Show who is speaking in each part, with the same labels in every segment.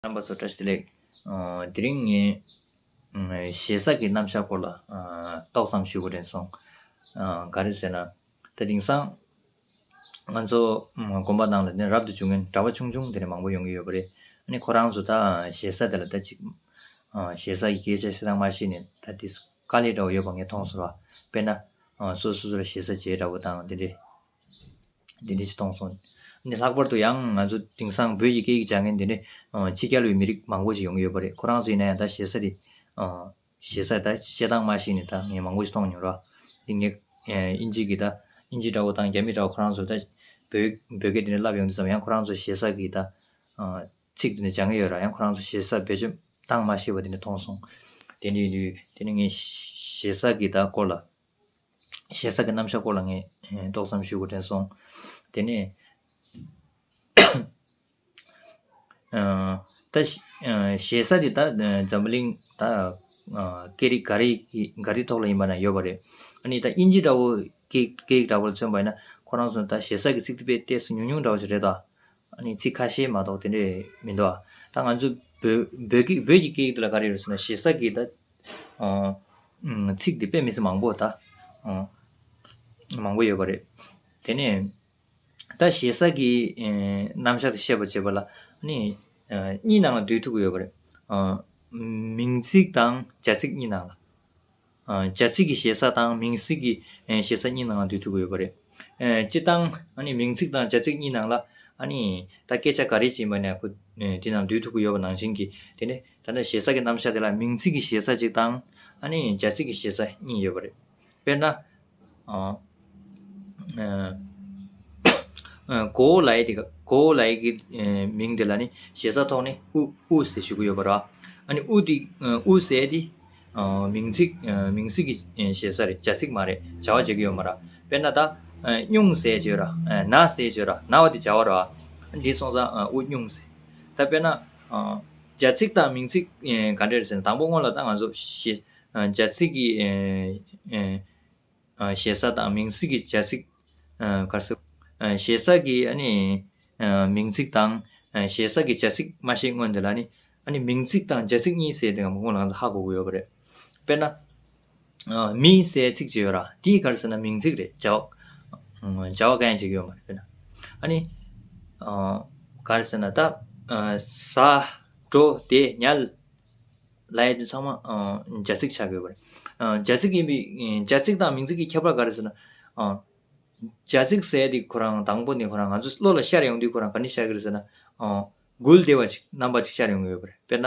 Speaker 1: རྣམ་པ་སོགས་བཀྲ་ཤིས་ལེགས། དེ་རིང་ངས། ཞེ་ས་ཀྱི་རྣམ་བཞག་སྐོར་ལ། ཏོག་ཙམ་ཞུ་དགོས་དྲན་སོང། ག་རེ་ཟེར་ན། ད་དེང་སང། ང་ཚོ། དགོན་པ་ནང་ལ་ནི་རབ་ཏུ་འབྱུང་ངན་གྲྭ་བ་ཆུང་ཆུང་དེ་རིང་མང་པོ་ཡོང་གི་ཡོད་པ་རེད། ནི་ཁོ་རང་ཚོ་ད་ཞེ་ས་དེ་ལ་ད་ཅིག། ཞེ་ས་ཀྱི་སྐད་ཆ་བཤད་སྟངས་མ་ཤེས་ནས་ད་དེ། དཀའ་ལས་འདྲ་བོ་ཡོད་པ་ངས་མཐོང་སོང། དཔེར་ན། སོ་སོ་ཚོ་ལ་ཞེ་ས་བྱས་འདྲ་བོ་དང་དེ་འདྲའི། འདི་འདྲས་ཀྱིས་གཏོང་སོང། འདི་ལྷག་པར་དུ་ཡང་ང་ཚོ་དེང་སང་བོད་ཀྱི་སྐད་ཡིག་སྦྱང་མཁན་འདི་འདྲས་ཕྱི་རྒྱལ་བའི་མི་རིགས་མང་པོ་ཞིག་ཡོང་གི་ཡོད་པ་རེད་ཁོ་རང་ཚོས་ན་ཡང་ད་བཤད་ས་དེ། བཤད་ས་ད་བཤད་སྟངས་མ་ཤེས་ནས་ད་ངས་མང་པོ་ཞིག་གཏོང་མྱོང་རོགས། འདི་ངས་ཨིན་ཇིག་གི་ད་ཨིན་ཇི་འདྲ་བོ་དང་རྒྱ་མི་འདྲ་བོ་ཁོ་རང་ཚོར་ད། བོད་བོད་སྐད་འདི་འདྲས་བསླབ་ཡོང་དུས་སམ་ཡང་ཁོ་རང་ཚོས་བཤད་ས་གི་ད། ཚིག་འདི་འདྲས་སྦྱང་གི་ཡོད་ར་ཡང་ཁོ་རང་ཚོས་བཤད་ས་བེད་སྤྱོད་སྟངས་མ་ཤེས་པ་འདི་འདྲས་མཐོང་སོང། དེ་འདྲས་དུས་དེ་ནས་ངས་བཤད་ས་གི་ད་སྐོར་ལ། ཞེ་ས་ཀྱི་རྣམ་གཞག་སྐོར་ལ་ངས་ཏོག་ཙམ་ཞུ་དགོས་དྲན་སོང། དེ་ནས། ད་ཞེ་ས་དེ་དག་འཛམ་བུ་གླིང་ད་སྐད་རིགས་འགའ་རེ་འགའ་རེའི་ཐོག་ལ་ཡིན་པ་ན་ཡོད་པ་རེད། ཨ་ནི་ད་དབྱིན་ཇི་འདྲ་བོ་སྐད་ཡིག་འདྲ་བོ་ལ་མཚོན་པ་ཡིན་ན་ཁོ་རང་ཚོ་ནི་ད་ཞེ་ས་ཀྱི་ཚིག་དེ་པས་ལྟས་སུ་ཉུང་ཉུང་འདྲ་བོ་ཞིག་རེད་ད། ཨ་ནི་ཚིག་ཁ་ཤས་མ་གཏོགས་དེ་འདྲས་མི་འདུག་ཨ། ད་ང་ཚོའི་བོད་བོད་ཀྱི་བོད་ཀྱི་སྐད་ཡིག་འདི་ལ་ག་རེ་ཡོད་ཟེར་ན་ཞེ་ས་ཀྱི་ད་ཚིག་འདི་དཔེ་མི་སྲིད་མང་པོ་ད། མང་པོ་ཡོད་པ་རེད། དེ་ནས། ད་ཞེ་ས་ཀྱི་རྣམ་གཞག་དེ་ཤེས་པར་བྱེད་པ་ལ། གཉིས་ནང་ལ་འདུས་ཐུབ་ཀྱི་ཡོད་པ་རེད། མིང་ཚིག་དང་བྱ་ཚིག་གཉིས་ནང་ལ། བྱ་ཚིག་གི་ཞེ་ས་དང་མིང་ཚིག་གི་ཞེ་ས་གཉིས་ནང་ལ་འདུས་ཐུབ་ཀྱི་ཡོད་པ་རེད། སྤྱིར་བཏང་མིང་ཚིག་དང་བྱ་ཚིག་གཉིས་ནང་ལ། ད་སྐད་ཆ་ག་རེ་བྱིན་པ་ནས་འདི་ནང་འདུས་ཐུབ་ཀྱི་ཡོད་པ་ནང་བཞིན་གྱི་དེ་ནས། ད་ནི་ཞེ་ས་ཀྱི་རྣམ་གཞག་དེ་ལ་མིང་ཚིག་གི་ཞེ་ས་གཅིག་དང། ཨ་ནི་སྦྱར་ཚིག་གི་ཞེ་ས་གཉིས་ཡོད་པ་རེད། དཔེར་ན། གོ་བོ་ལའི་དེ་གོ་བོ་ལའི་གི་མིང་དེ་ལ་ནི་ཞེ་ས་ཐོག་ནས་ཨུ་ཨུ་ཟེར་ཞུ་གི་ཡོད་པ་ར། ཨ་ནི་ཨུ་དེ་ཨུ་ཟེར་དེ། མིང་ཚིག་མིང་ཚིག་གི་ཞེ་ས་རེད་སྦྱར་ཚིག་མ་རེད་བྱ་བ་བྱེད་ཀྱི་ཡོད་མ་ར། དཔེར་ན་ད། སྨྱུང་ཟེར་བྱོས་ར་ན་ཟེར་བྱོས་ར་ན་བ་དེ་བྱ་བ་ར། འདི་སོང་ཙང་ཨུ་སྨྱུང་ཟེར། ད་དཔེར་ན། སྦྱར་ཚིག་དང་མིང་ཚིག་ག་འདྲེ་རེད་ཟེར་ན་དང་པོ་སྔོན་ལ་ལྟ་ང་ཚོ། སྦྱར་ཚིག་གི་ཞེ་ས་དང་མིང་ཚིག་གི་སྦྱར་ཚིག་གར་སོ། ཞེ་ས་གི་མིང་ཚིག་དང་ཞེ་ས་གི་སྦྱར་ཚིག་མ་ཤེས་སྔོན་དེ་ལ་ནི། མིང་ཚིག་དང་སྦྱར་ཚིག་གཉིས་ཟེར་དེ་ང་ཚོ་སྔོན་ལ་ཧ་གོ་གི་ཡོད་པ་རེད། དཔེར་ན། མིའི་སའི་ཚིག་ཅིག་ཡོད་ར་དེའི་གར་ཟེར་ན་མིང་ཚིག་རེད་བྱ་བ་བྱ་བ་གན་ཅིག་ཡོད་མ་རེད་པས་ན་ཨ་ནི་གར་ཟེར་ན་ད་ཟ་འགྲོ་དེད་ཉལ་ལའི་དེ་ཚང་མ་རྒྱ་ཚིག་ཆགས་ཡོད་པ་རེད་རྒྱ་ཚིག་ཡིན་པའི་རྒྱ་ཚིག་དང་མིང་ཚིག་གི་ཁྱད་པར་ག་རེ་ཟེར་ན་རྒྱ་ཚིག་ཟེར་དེ་ཁོ་རང་དང་པོ་ནས་ཁོ་རང་ང་ཚོ་བློ་ལ་ཤར་ཡོང་དུས་ཁོ་རང་ག་ནས་ཤར་གི་རེད་ཟེར་ན་མགུལ་བདེ་བ་ཅིག་རྣམ་པ་ཅིག་ཤར་ཡོང་གི་ཡོད་པ་རེད་དཔེར་ན་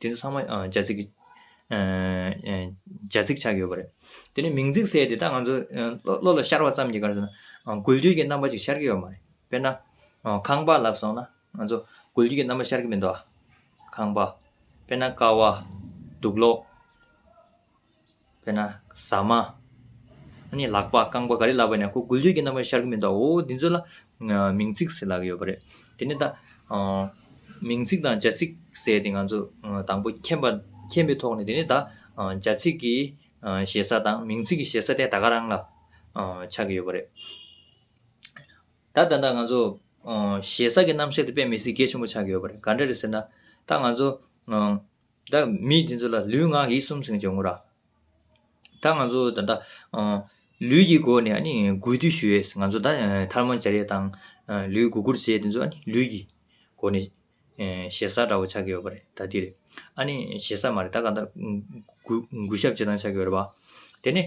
Speaker 1: དེ་ཚོ་ཚང་མ་རྒྱ་རྩིག་གི། རྒྱ་རྩིག་ཆགས་ཡོད་པ་རེད། དེ་ནས་མིང་རྩིག་གསལ་དེ་དག་ང་ཚོ་བློ་ལ་ཤར་བ་ཙམ་གྱིས་ག་རེ་ཟེར་ན། དགུ་བརྒྱུད་ཀྱི་རྣམ་པ་ཅིག་ཤར་གྱི་ཡོད་མ་རེད། དཔེར་ན། ཁང་པ་ལབ་སོང་ན་ང་ཚོ་དགུ་བརྒྱུད་ཀྱི་རྣམ་པ་ཤར་གྱི་མི་འདུག་ཨ། ཁང་པ། དཔེར་ན་ཀ་བ། དུག་ལོག། དཔེར་ན། ཟ་མ། ཨཱ་ནི་ལག་པ་རྐང་པ་ག་རེ་ལབ་པ་ནས་ཁོ་དགུ་བརྗོད་ཀྱི་རྣམ་པ་ཤར་གྱི་མི་འདུག་འོ་འདི་ཚོ་ལ། མིང་ཚིག་ཟེར་ལག་གི་ཡོད་པ་རེད། དེ་ནས་ད། མིང་ཚིག་དང་བྱ་ཚིག་ཟེར་ཏེ་ང་ཚོ་དང་པོ་མཁྱེན་པ་མཁྱེན་པའི་ཐོག་ནས་དེ་ནས་ད། བྱ་ཚིག་གི་ཞེ་ས་དང་མིང་ཚིག་གི་ཞེ་ས་དེ་ད་ག་རང་ལ། ཆགས་ཀྱི་ཡོད་པ་རེད། ད་ད་ལྟ་ང་ཚོ། ཞེ་ས་ཀྱི་རྣམ་བཤད་དེ་དཔེ་མི་སྲིད་གེ་ཆེན་པོ་ཆགས་ཀྱི་ཡོད་པ་རེད་ག་འདྲ་རེད་ཟེར་ན། ད་ང་ཚོ། ད་མི་དེ་ཚོ་ལ་ལུས་ངག་ཡིད་གསུམ་སྲུང་བྱེད་ངོ་ར། ད་ང་ཚོ་ད་ལྟ་ལུས་ཀྱི་སྒོ་ནས་ནི་གུས་འདུད་ཞུ་ཡོད། ང་ཚོ་ད་ཐར་མ་བྱ་ཡས་དང་ལུས་སྒུག་སྒུར་བྱེད་དེ་ཚོ་ནི་ལུས་ཀྱི་སྒོ་ནས་ཞེ་ས་འདྲ་བོ་ཆགས་ཀྱི་ཡོད་པ་རེད་ད་དེ་རེད། ཨ་ནི་ཞེ་ས་མ་རེད་ད་གང་ལྟར་གུས་ཞབས་བྱེད་སྟངས་ཆགས་ཀྱི་ཡོད་རེད་བ། དེ་ནས།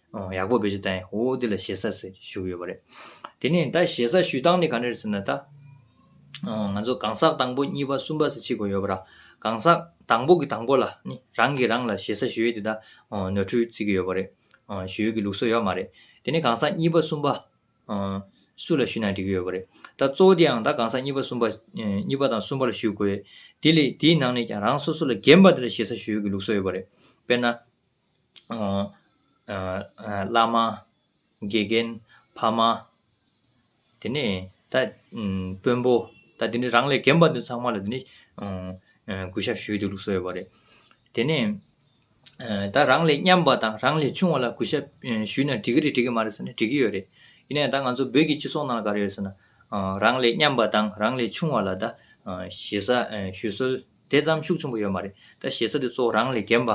Speaker 1: ཡག་པོ་བེད་སྤྱོད་བཏང་ཡོད་འོ་འདི་ལ་ཞེ་ས་ཟེར་གྱི་ཞུ་གི་ཡོད་པ་རེད། དེ་ནས་ད་ཞེ་ས་ཞུས་སྟངས་ནི་ག་ནེར་ཟེར་ན་ད། ང་ཚོ་གང་ཟག་དང་པོ་གཉིས་པ་གསུམ་པ་ཟེར་ཅི་དགོས་ཡོད་པ་ར། གང་ཟག་དང་པོ་གི་དང་པོ་ལ་ནི་རང་གིས་རང་ལ་ཞེ་ས་ཞུ་ཡོད་དེ་ད། ནོར་འཁྲུལ་བརྩི་གི་ཡོད་པ་རེད། ཞུ་ཡོད་ཀྱི་ལུགས་སྲོལ་ཡོད་མ་རེད། དེ་ནས་གང་ཟག་གཉིས་པ་གསུམ་པ། སུ་ལ་ཞུས་ན་འགྲིག་གི་ཡོད་པ་རེད། ད་གཙོ་བོ་དེའང་ད་གང་ཟག་གཉིས་པ་གསུམ་པ། གཉིས་པ་དང་གསུམ་པ་ལ་ཞུ་དགོས། དེ་ལས་དེའི་ནང་ནས་ཀྱང་རང་སོ་སོ་ལ་རྒན་པ་དེ་ལ་ཞེ་ས་ཞུ་ཡོད་ཀྱི་ལུགས་སྲོལ་ཡོད་པ་རེད། དཔེར་ན། བླ་མ། དགེ་རྒན། ཕ་མ། དེ་ནས་ད། དཔོན་པོ། ད་དེ་ནས་རང་ལས་རྒན་པ་དེ་ཚང་མ་ལ་དེ་ནས། གུ་ཤ་བཞོས་ཏེ་ལུགས་སོ་ཡོད་པ་རེད། དེ་ནས། ད་རང་ལས་མཉམ་པ་དང་རང་ལས་ཆུང་བ་ལ་གུ་ཤ་བཞུས་ན་འགྲིག་གི་རེད་འགྲིག་གི་མ་རེད་ཟེར་ནས་འགྲིག་གི་ཡོད་རེད། ཡིན་ན་ཡང་ད་ང་ཚོ་བོད་ཀྱི་སྤྱི་ཚོགས་ནང་ག་རེ་ཡོད་ཟེར་ན། རང་ལས་མཉམ་པ་དང་རང་ལས་ཆུང་བ་ལ་ད། ཞེ་ས་བཞུས་སྲོལ་དེ་ཙམ་ཤུགས་ཆེན་པོ་ཡོད་མ་རེད། ད་ཞེ་ས་དེ་ཚོ་རང་ལས་རྒན་པ།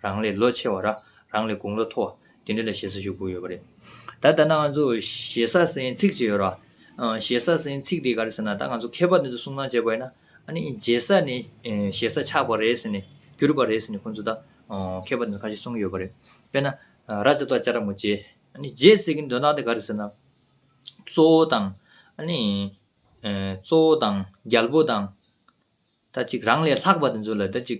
Speaker 1: རང་ལས་ལོ་ཆེ་བ་ར་རང་ལས་དགུང་ལོ་མཐོ་བ་དེ་འདྲ་ལ་ཞེ་ས་ཞུ་དགོས་ཡོད་པ་རེད། ད་ལྟ་ན་ང་ཚོ་ཞེ་ས་ཟེར་ཚིག་ཅིག་ཡོད་ར། ཞེ་ས་ཟེར་ཚིག་དེ་ག་རེ་ཟེར་ན་ད་ང་ཚོ་མཁས་པ་དེ་ཚོ་གསུང་གནང་བྱས་པ་ཡིན་ན་ཨ་ནི་རྗེ་ས་ནས་ཞེ་ས་ཆགས་པ་རེད་ཟེར་ནས་གྱུར་པ་རེད་ཟེར་ནས་ཁོང་ཚོ་ད་མཁས་པ་དེ་ཚོ་ཁ་ཤས་གསུང་གི་ཡོད་པ་རེད། དཔེར་ན་ར་ཅོ་ཏོ་ཅཱ་ར་མོ་རྗེ། ཨ་ནི་རྗེ་ཟེར་གི་འདོན་སྟངས་དེ་ག་རེ་ཟེར་ན། གཙོ་བོ་དང་ཨ་ནི་གཙོ་བོ་དང་རྒྱལ་པོ་དང་ད་ཅིག་རང་ལས་ལྷག་པ་དེ་ཚོ་ལ་ད་ཅིག་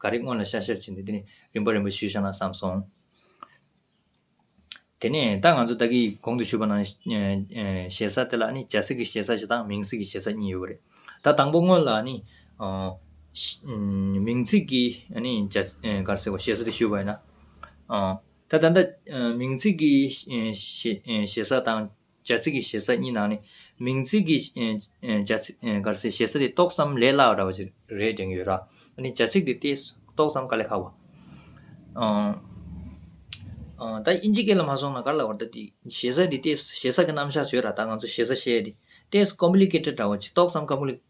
Speaker 1: ག་རེ་སྔོན་ལ་ཤར་ཤར་བྱས་འདུག་དེ་ནས་རིམ་པ་རིམ་པ་ཞུས་ཤག་ན་བསམ་སོང། དེ་ནས་ད་ང་ཚོ་བདག་གིས་གོང་དུ་ཞུས་པ་ནང་ཞེ་ས་དེ་ལ་ནི་བྱ་སྲིད་ཀྱི་ཞེ་ས་ཞིག་དང་མིང་སྲིད་ཀྱི་ཞེ་ས་གཉིས་ཡོད་པ་རེད། ད་དང་པོ་སྔོན་ལ་ནི། མིང་ཚིག་གི་ནི་བྱ་གར་ཟེར་བ་ཞེ་ས་དེ་ཞུས་པ་ཡིན་ན། ད་ད་ལྟ་མིང་ཚིག་གི་ཞེ་ས་དང་བྱ་ཚིག་གི་ཞེ་ས་གཉིས་ནང་ནས་མིང་ཚིག་གི་བྱ་ཚིག་གར་སའི་ཞེ་ས་དེ་ཏོག་ཙམ་ལས་སླ་བ་འདྲ་བ་ཞིག་རེད་དྲན་གྱི་ཡོད། ར་ནི་བྱ་ཚིག་དེ་ཏེ་ཏོག་ཙམ་ག་ལས་ཁག་པ། ད་དབྱིན་ཇི་སྐད་ལ་མ་སོང་ན་ག་ལ་བར་ད་དེ་ཞེ་ས་དེ་ཏེ་ཞེ་ས་གི་རྣམ་གཞག་བཟོས་ར་ད་ང་ཚོ་ཞེ་ས་བཤད་དེ་ཏེ complicated འདྲ་བ་ཅིག་ཏོག་ཙམ་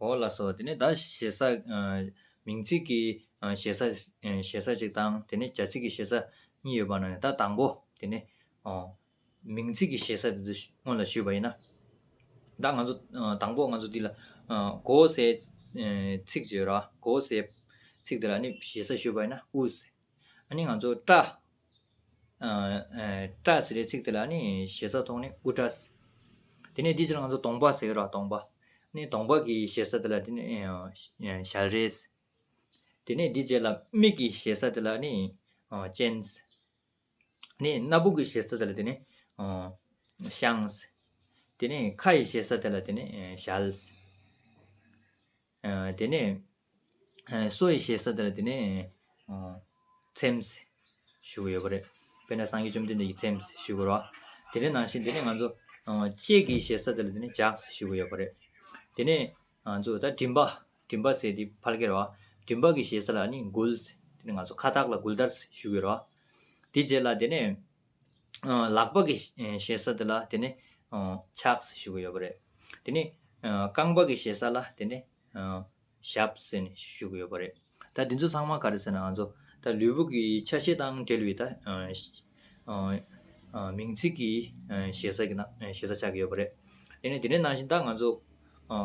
Speaker 1: འོག་ལ་སོགས་དེ་ནས་ད་ཞེ་ས། མིང་ཚིག་གི་ཞེ་ས། ཞེ་ས་གཅིག་དང་དེ་ནས་བྱ་ཚིག་གི་ཞེ་ས་གཉིས་ཡོད་པ་ན་ནི་ད་དང་པོ་དེ་ནི། མིང་ཚིག་གི་ཞེ་ས་དེ་ཚོ་སྔོན་ལ་ཞུས་པ་ཡིན་ན། ད་ང་ཚོ་དང་པོ་ང་ཚོ་འདི་ལ། གོ་བོ་སའི་ཚིག་ཅེས་པ་རོ། གོ་བོ་སའི་ཚིག་དེ་ལ་ནི་ཞེ་ས་ཞུས་པ་ཡིན་ན་ཨུས། ཨཱ་ནི་ང་ཚོ་སྐྲ། ཏྲ་ཟེར་བའི་ཚིག་དེ་ལ་ནི་ཞེ་ས་ཐོགས་ནས་ཨུ་ཏྲ་སི། དེ་ནས་འདི་ཕྱིར་ང་ཚོ་དོང་པ་ཟེར་རོགས་དོང་པ། ནི་དོང་པ་གི་ཞེ་ས་དེ་ལ་དེ་ནི་ཞལ་རས་སི། དེ་ནས་འདི་བྱས་ལ་མིག་གི་ཞེ་ས་དེ་ལ་ནི་སྤྱན་སི། ནི་སྣ་བུག་གི་ཞེ་ས་དེ་ལ་དེ་ནི་ཤངས་སི། དེ་ནས་ཁ་ཡི་ཞེ་ས་དེ་ལ་དེ་ནི་ཞལ་སི། དེ་ནས་སོ་ཡི་ཞེས་ས་དེར་དེ་ནས་ཚེམས་ཞུ་གི་ཡོད་པ་རེད་དཔེར་ན་སངས་རྒྱས་བཅོམ་ལྡན་འདས་ཀྱིས་ཚེམས་ཞུ་གི་རོ་དེ་ནས་ནང་བཞིན་དེ་ནས་ང་ཚོ་ལྕེ་གི་ཞེས་ས་དེར་དེ་ནས་ལྗགས་ཞུ་གི་ཡོད་པ་རེད་དེ་ནས་ང་ཚོ་ད་མགྲིན་པ་མགྲིན་པ་ཟེར་དེ་ཕར་ཁེར་བ་མགྲིན་པ་གི་ཞེས་ས་ལ་ནི་མགུལ་དེ་ནས་ང་ཚོ་ཁ་བཏགས་ལ་མགུལ་དར་ཞུ་གི་རོ་དེ་རྗེས་ལ་དེ་ནས་ལག་པ་གི་ཞེ་ས་དེ་ལ་དེ་ནི་ཕྱགས་ཞེས་ཞུ་གི་ཡོད་པ་རེད། དེ་ནས་རྐང་པ་གི་ཞེ་ས་ལ་དེ་ནི་ཞབས་ཞེས་ནི་ཞུ་གི་ཡོད་པ་རེད། ད་འདི་ཚོ་ཚང་མ་ག་རེ་ཟེར་ན་ང་ཚོ་ད་ལུས་པོ་གི་ཆ་ཤས་དང་འབྲེལ་བའི་ད་མིང་ཚིག་གི་ཞེ་ས་གི་ནང་ཞེ་ས་ཆགས་ཀྱི་ཡོད་པ་རེད། དེ་ནས་དེ་ནས་ནང་བཞིན་ད་ང་ཚོ་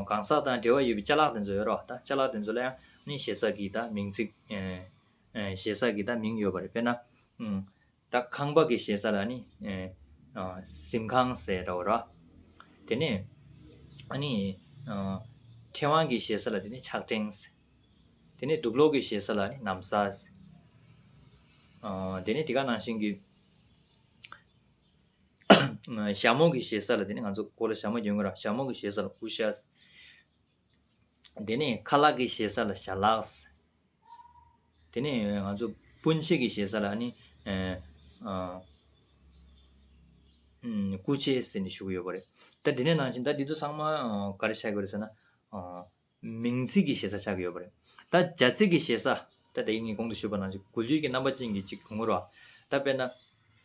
Speaker 1: གང་ཟག་དང་འབྲེལ་བ་ཡོད་པའི་བཅའ་ལག་དེ་ཚོ་ཡོད་རོགས་ད་བཅའ་ལག་དེ་ཚོ་ལ་ཡང་ནི་ཞེ་ས་གི་ད་མིང་ཚིག་ཞེ་ས་གི་ད་མིང་ཡོད་པ་རེད་དཔེར་ན། ད་ཁང་པ་གི་ཞེ་ས་ལ་ནི་གཟིམས་ཁང་ཟེར་རོ་ར། དེ་ནས་ཨ་ནི་ཕྲེང་བ་གི་ཞེ་ས་ལ་དེ་ནི་ཕྱག་ཕྲེང་ཟེར། དེ་ནས་དུག་ལོག་གི་ཞེ་ས་ལ་ནི་ནམ་ས་ཟེར། དེ་ནས་དེ་ག་ནང་བཞིན་གྱི་ཞྭ་མོ་གི་ཞེ་ས་ལ་དེ་ནི་ང་ཚོ་གོ་ལ་ཞྭ་མོ་རྒྱོན་གོ་ར་ཞྭ་མོ་གི་ཞེ་ས་ལ་ཨུ་ཤ་ཟེར། དེ་ནས་ཁ་ལག་གི་ཞེ་ས་ལ་ཞྭ་ལགས། དེ་ནས་ང་ཚོ་སྤུན་མཆེད་ཀྱི་ཞེ་ས་ལ་ནི་སྐུ་མཆེད་ཟེར་ནས་ཞུ་གི་ཡོད་པ་རེད། ད་དེ་ནས་ནང་བཞིན་ད་འདི་ཚོ་ཚང་མ་གར་ཆགས་ཀྱི་རེད་ཟེར་ན། མིང་ཚིག་གི་ཞེ་ས་ཆགས་ཀྱི་ཡོད་པ་རེད། ད་བྱ་ཚིག་གི་ཞེ་ས། ད་དེ་ངས་གོང་དུ་ཞུས་པ་ནང་བཞིན་གོ་རྒྱུ་གྱི་རྣམ་པ་ཅན་གྱི་གཅིག་གོང་མོར་བ། ད་དཔེར་ན།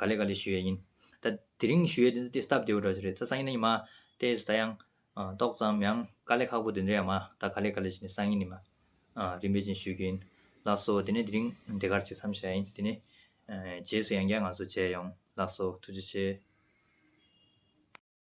Speaker 1: ག་ལེ་ག་ལེ་ཞུ་ཡས་ཡིན། ད་དེ་རིང་ཞུ་ཡས་དེ་ཚོ་དེ་སྟབས་བདེ་བོ་འདྲ་ཞིག་རེད་ད་སང་ཉིན་ནི་མ། ཏེ་ད་ཡང། ཏོག་ཙམ་ཡང་དཀའ་ལས་ཁག་པོ་དེ་འདྲ་ཡང་མ་ད་ག་ལེ་ག་ལེ་ཞིག་ནི་སང་ཉིན་ནི་མ། རིན་པོ་ཆེ་ཞུ་རྒྱུ་ཡིན། ལགས་སོ་དེ་ནས་དེ་རིང་འདི་གར་ཅིག་མཚམས་བཞག་ཡིན་དེ་ནས། རྗེས་སུ་ཡང་བསྐྱར་ང་ཚོ་མཇལ་ཡོང། ལགས་སོ་ཐུགས་རྗེ་ཆེ།